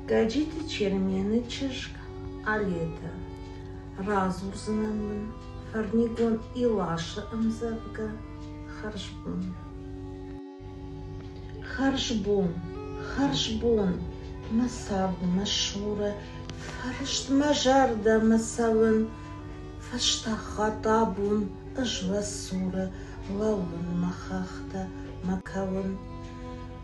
Гӕджиты Чермены чызг Алетӕ. Радзурдзынӕн мын фӕрнигон Иласы ӕмдзӕвгӕ «Хӕрзбон». Хӕрзбон, хӕрзбон, мӕ цард, мӕ суры, фӕрыстмӕ зӕрдӕ мӕ цӕуын, фӕстахатт абон ӕз уӕ цуры, лӕууын мӕ хӕхтӕ, мӕ кӕуын.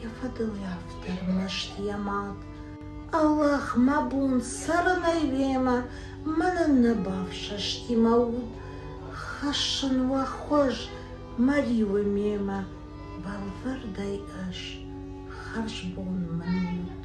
Йӕ фӕдыл автор мӕсты йӕ мад. Аллах, мӕ бон цӕрынӕй уемӕ мӕнӕн нӕ бафсӕсти мӕ уд. Хӕссын уӕ хуыз, мӕ риуы мемӕ, бӕлвырдӕй ӕз хӕрзбон мын ут.